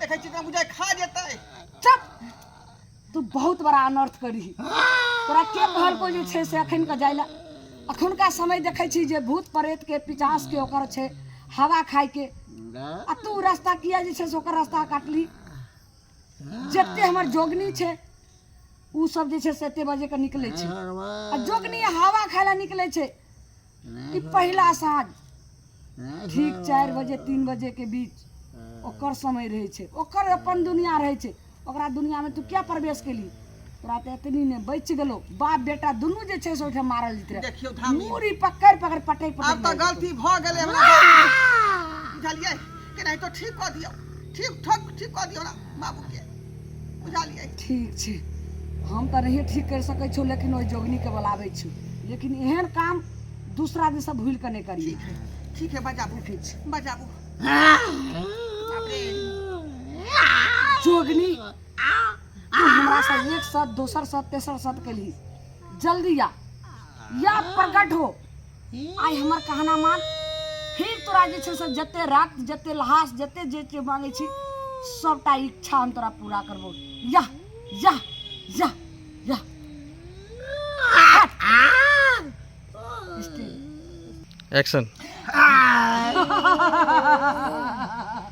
देखै छी तोरा बुझाइ खा जेतै चुप तू बहुत बड़ा अनर्थ करी तोरा के कहलको जे छै से अखन के जाय लए अखुनका समय देखै छी जे भूत प्रेत के पिचास के ओकर छै हवा खाय के आ तू रास्ता किया जे छै से ओकर रास्ता काटली जते हमर जोगनी छै उ सब जे छै से एते बजे के निकलै छै आ जोगनी हवा खाय लए निकलै छै ई पहिला साँझ ठीक चारि बजे तीन बजे के बीच ओकर समय रहै छै ओकर अपन दुनिया रहै छै ओकरा दुनिया में तू क्या प्रवेश केली तोरा तऽ एतनी ने बच गेलो बाप बेटा दुनू जे छै से ओहिठाम मारल जेतै देखियौ धामी मूड़ी पकड़ पकड़ पटै पटै आब तऽ गलती भऽ गेलै हमरा बाबू। बुझलियै केनाहितो ठीक कऽ दियौ ठीक ठोक ठीक कऽ दियौ हमरा बाबूके बुझलियै ठीक छै हम तऽ नहिए ठीक करि सकैत छौ लेकिन ओहि जोगनीके बोलाबै छी लेकिन एहन काम दूसरा दिनसँ भूलि कऽ नहि करियै ठीक है ठीक है बजाबू ठीक छै बजाबू जोगनी हमरा से एक सत दोसर सत तेसर सत केली जल्दी आ या प्रकट हो आइ हमर कहना मान फिर तोरा जे छै से जते रक्त जते लहास जते जे जे मांगे छी सबटा इच्छा हम तोरा पूरा करबो या या या या एक्शन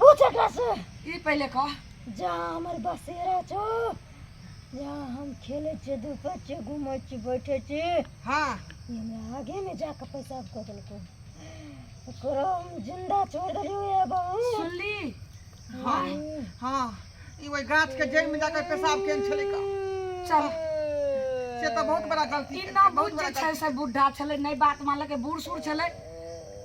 पूछ एकरा से ई पहिले कह जा हमर बसेरा छो जा हम खेले छे धूपे छे घूमे छे बैठे छे हाँ ई हमरा आगे में जाके पेशाब कर देलको ओकरो हम जिंदा छोड़ देलियो ये बहू सुनली हाँ हाँ ई वही गाछ के जड़ में जाकर पेशाब केन छले का चल से तो बहुत बड़ा गलती ई ना बहुत बुझ बड़ा जे छै से बुढ़ा छलै नै बात मानलकै बूढ़ सूढ़ छलै